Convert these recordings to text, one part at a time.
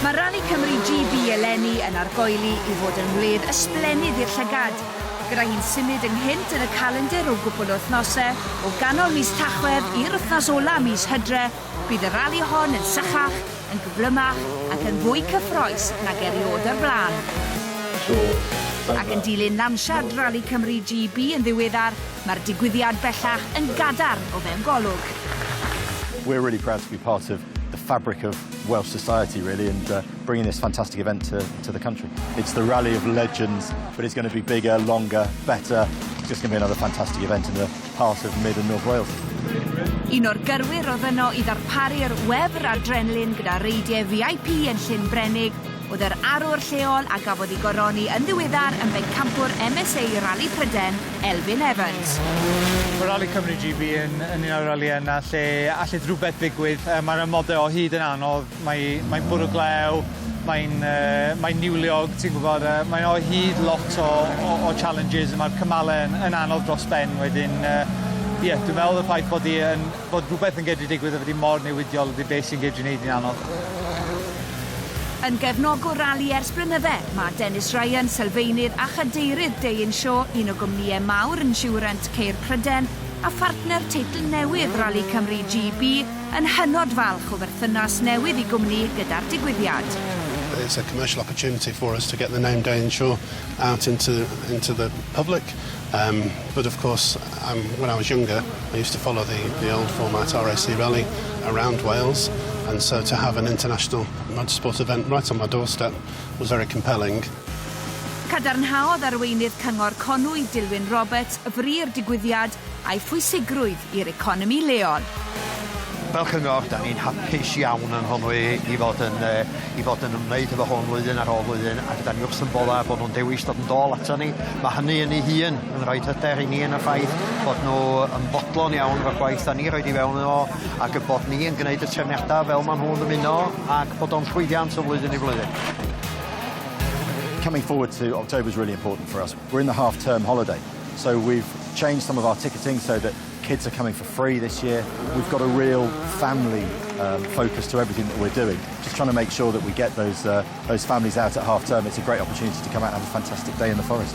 Mae Rali Cymru GB eleni yn argoeli i fod yn wledd ysblennydd i'r llygad, gyda hi'n symud ynghynt yn y calendr o gwpl o wythnosau, o ganol mis Tachwedd i'r wythnos ola' mis Hydre, bydd y rali hon yn sychach, yn gyflymach ac yn fwy cyffroes nag erioed o'r blaen. Ac yn dilyn lansiad Rali Cymru GB yn ddiweddar, Mae'r digwyddiad bellach yn gadarn o fewn golwg. We're really proud to be part of the fabric of Welsh society really and uh, bringing this fantastic event to, to the country. It's the rally of legends, but it's going to be bigger, longer, better. It's just going to be another fantastic event in the heart of mid and north Wales. Un o'r gyrwyr oedd yno i ddarparu'r wefr adrenlin gyda reidiau VIP yn Llyn Brenig oedd yr arwr lleol a gafodd ei goroni yn ddiweddar yn bencampwr MSA Rali Pryden, Elfyn Evans. Mae Rali Cymru GB yn yn un o'r ralïau yna lle allith rhywbeth ddigwydd. Yy mae'r amodau o hyd yn anodd, mae mae'n bwrw glew, mae'n yy mae'n niwliog, ti'n gwybod, yy mae'n o hyd lot o o o challenges a mae'r cymalau yn yn anodd dros ben wedyn yy ie dwi'n meddwl y ffaith bod hi yn Bod rhywbeth yn gedru digwydd a bod hi mor newidiol ydy beth sy'n gedru neud hi'n anodd. Yn gefnogwr rali ers blynydde, mae Dennis Ryan, sylfaenydd a chadeirydd Day in Show, un o gwmnïau mawr insiwrant ceir Pryden, a phartner teitl newydd Rali Cymru GB, yn hynod falch o berthynas newydd i gwmni gyda'r digwyddiad. It's a commercial opportunity for us to get the name Day in Show out into into the public, um, but of course, Um, when I was younger, I used to follow the, the old format RSC rally around Wales, and so to have an international motorsport event right on my doorstep was very compelling. Cadarnhaodd arweinydd Cyngor Conwy, Dilwyn Roberts, fri'r digwyddiad a'i phwysigrwydd i'r economi leol. Fel cyngor, da ni'n hapus iawn yn Nghonwy i fod yn, uh, i fod yn ymwneud efo hwn flwyddyn ar ôl flwyddyn, ac da ni wrth yn boddau bod nhw'n dewis dod yn dôl ato ni. Mae hynny yn ei hun yn rhoid hyder i ni yn y ffaith bod nhw yn fodlon iawn o'r gwaith da ni roid i fewn yno ac y bod ni yn gwneud y trefniadau fel maen nhw'n dymuno ac bod o'n llwyddiant o flwyddyn i flwyddyn. coming forward to October is really important for us. We're in the half term holiday, so we've changed some of our ticketing so that kids are coming for free this year. We've got a real family um, focus to everything that we're doing, just trying to make sure that we get those, uh, those families out at half term. It's a great opportunity to come out and have a fantastic day in the forest.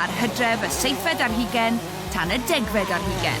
Ar hydref, y seithfed ar hugen, tan y degfed ar hugen.